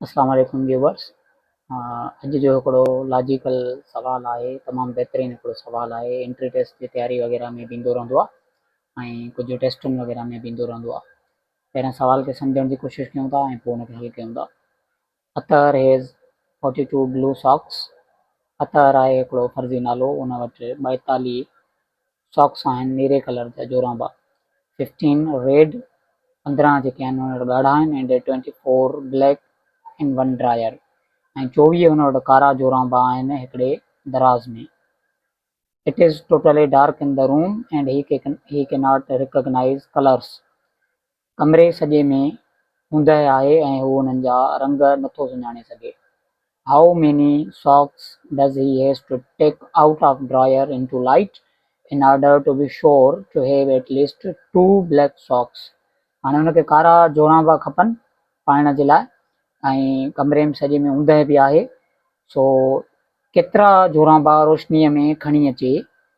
اسلام عليڪم ويوورس اڄ جو هڪڙو لاجيڪل سوال آهي تمام بهترين هڪڙو سوال آهي انٽري ٽيسٽ جي تياري وغيره ۾ به ايندو رهندو آهي ۽ ڪجهه ٽيسٽن وغيره ۾ به ايندو رهندو آهي پهريان سوال کي سمجهڻ جي ڪوشش ڪيون ٿا ۽ پوء ان کي حل ڪيون ٿا Athar has forty two blue socks Athar آهي هڪڙو فرضي نالو ان وٽ ٻائيتاليهه ساڪس آهن نيري ڪلر جا جورابا ففٽين ريڊ پندرهن جيڪي آهن ان وٽ ڳاڙها آهن ۽ twenty four black ۽ one drawer ۽ چوويهه ان وٽ ڪارا جورابا آهن هڪڙي دراز ۾ it is totally dark in the room and he can not recognise colours ڪمري سڄي ۾ اوندهه آهي ۽ هو انهن جا رنگ نٿو سڃاڻي سگهي. How many socks does he has to take out of drawer in to light in order to be sure to have at least two black socks. هاڻي هن کي ڪارا جورابا کپن پائڻ جي لاء ۽ ڪمري م سڄي ۾ اوندهه به آهي سو ڪيترا جورابا روشنيء ۾ کڻي اچي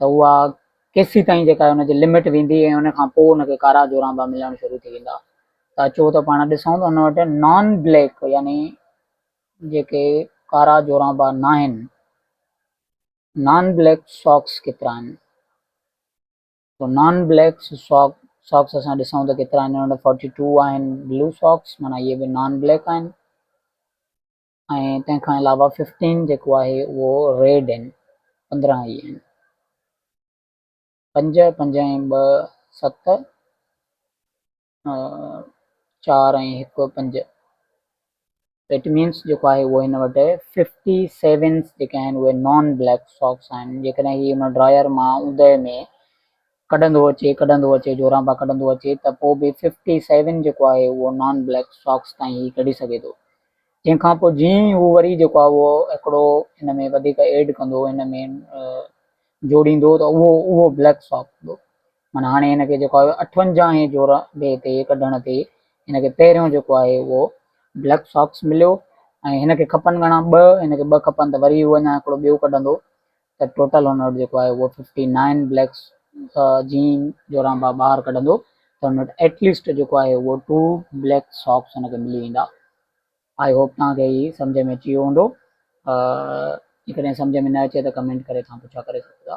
ته اها ڪيسي تائين جيڪا ان جي لمٽ ويندي ۽ ان کان پوء ان کي ڪارا جورامبا ملڻ شروع ٿي ويندا ته اچو ته پاڻ ڏسون ته ان وٽ نان بليڪ يعني جيڪي ڪارا جورامبا ناهن نان بليڪ ساڪس ڪيترا آهن تو نان بليڪ ساڪ ساڪس اسان ڏسون ته ڪيترا آهن ان وٽ فورٽي ٽو آهن بلو ساڪس مانا اهي به نان بليڪ آهن ۽ تنهن کان علاوه ففٽين جيڪو آهي اهو ريڊ ان پندرهن اي ان پنج پنج ۽ ٻه ست چار ۽ هڪ پنج ايٽ مينس جيڪو آهي اهو هن وٽ ففٽي سيونس جيڪي آهن اهي نان بليڪ ساڪس آهن جيڪڏهن هي هن ڊراير مان اوندهه ۾ ڪڍندو اچي ڪڍندو اچي جوران پيا ڪڍندو اچي ته پوء به ففٽي سيون جيڪو آهي اهو نان بليڪ ساڪس تائين هي ڪڍي سگهي ٿو جنهن کان پوء جيئن ئي هو وري جيڪو آهي اهو هڪڙو هن ۾ وڌيڪ ايڊ ڪندو هن ۾ جوڙيندو ته اهو اهو بليڪ ساڪس هوندو معنيٰ هاڻي هن کي جيڪو آهي اٺونجاهين جوران ڊي تي ڪڍڻ تي هن کي پهريون جيڪو آهي اهو بليڪ ساڪس مليو ۽ هن کي کپن گهڻا ٻه هن کي ٻه کپن ته وري هو اڃا هڪڙو ٻيو ڪڍندو ته ٽوٽل هن وٽ جيڪو آهي اهو ففٽي نائن بليڪس جين جورانبا ٻاهر ڪڍندو ته هن وٽ ايٽ ليسٽ جيڪو آهي اهو ٽو بليڪ ساڪس هن کي ملي ويندا آئي هوپ توهان کي هي سمجھ ۾ اچي ويو هوندو جيڪڏهن سمجھ ۾ نه اچي ته ڪمينٽ ڪري توهان پڇا ڪري سگهو ٿا